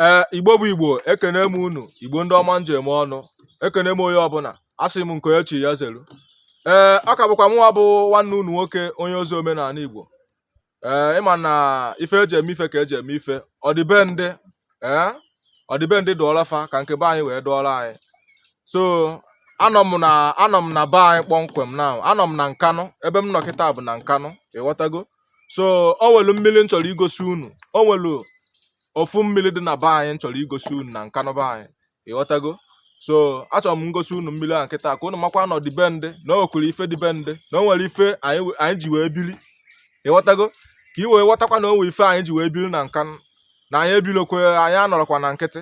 ee igbo bụ igbo ekene m unu igbo ndị ọma njem ọnụ ekene m onye ọbụla asị m nke onye chi ya zelu ee ọ ka bụkwa mụnwa bụ nwanne unu nwoke onye ozi omenala igbo ee ịma na ife eji eme ife ka eji eme ife ọdịbendị ee ọdịbendị dụọla fa ka nke be anyị wee dụọla anyị so anọ m na be anyị kpọmkwem na anọ m na nkanụ ebe m nọ kịta bụ na nkanụ ịghọtago so o nwelu mmiri m chọrọ igosi unu o nwelu ofu mmiri dị na be anyị m chọrọ igosi unu na nkanụ be anyị ịghọtago so achọrọ m ngosi unu mmiri a kịta ka unu makwa na ọdịbendị na o nwekwuru ife dị be ndị na o nwere ife anyị we- anyị ji wee biri ịghọtago ka i wee ghọtakwa na o nwere ife anyị ji wee biri na nkanụ na anyị ebilokwe anyị anọrọkwa na nkịtị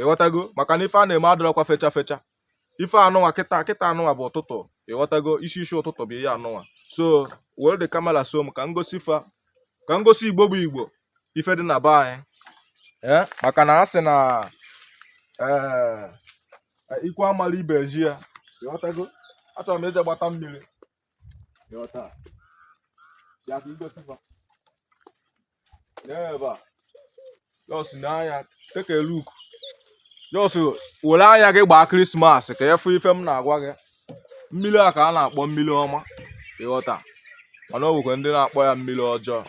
ịghọtago maka na ife a na-eme adịrọkwa fecha fecha ife anụnwa kịta kịta anụnwa bụ ụtụtụ ịghọtago isi isi ụtụtụ bụ ihe anụnwa so were the camera so m ka m gosi fa ka m gosi igbo bụ igbo ife dị na be anyị eh, maka na a sị na eh, ikwu amala ibe ezi ya ịghọtago achọrọ m ije gbata mmiri ịghọta ya ka i gosi fa n'ebe a just n'anya take a look just were anya gị gbaa krismas ka ị fụ ife m na-agwa gị mmiri a ka a na-akpọ mmiri ọma ịghọta mana o nwekwa ndị na-akpọ ya mmiri ọjọọ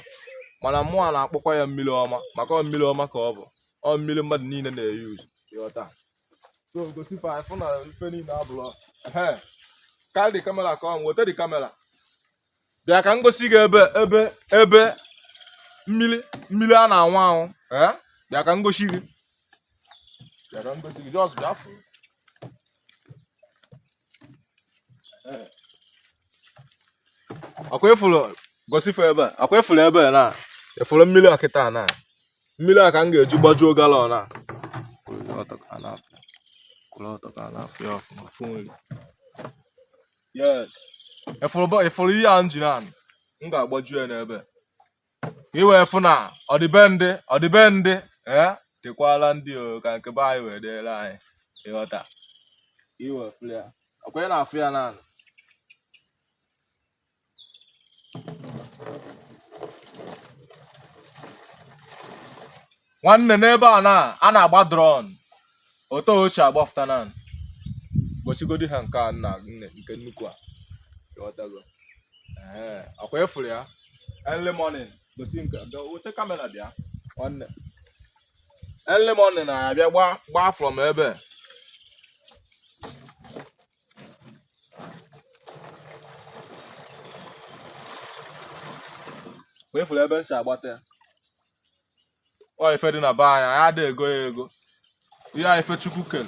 mana mụnwa na-akpọkwa ya mmiri ọma maka ọ mmiri ọma ka ọ bụ ọ mmiri mmadụ niile na-euse ịghọta so gosi fa anyị fụ na ife niile abụlọ ehe carry the camera come weta the camera bịa ka m gosi gị ebe ebe ebe mmiri mmiri a na-aṅụ aṅụ ee bịa ka m gosi gị bịa ka m gosi gị just bịa fụ ọkwa ị fụrụ gosi fa ebe ọkwa ị fụrụ ebe na ị fụrụ mmiri a kịta na mmiri a ka m ga-eji gbajuo galọn a yes ị fụrụ ihe a m jiri anụ m ga-agbaju ya n'ebe ka i wee fụ na ọdịbendị ọdịbendị ee dịkwala ndị o ka nke be anyị wee dịrị anyị ịghọta i wee fụ ya ọkwa ị na-afụ ya n'anya nwanne n'ebe a na a na-agba drum otu o si agbafụta na gosigodi ha nke a nna nne nke nnukwu a ịghọtago ee ọkwa ịfụrụ ya early morning gosi nke bịa weta kamera bịa nwanne early morning na-abịa gba gba from ebe a. wee fụrụ ebe m si agbata ya ọ ife dị na be anyị anyị adịghị ego ya ego ihe a ife chukwu kere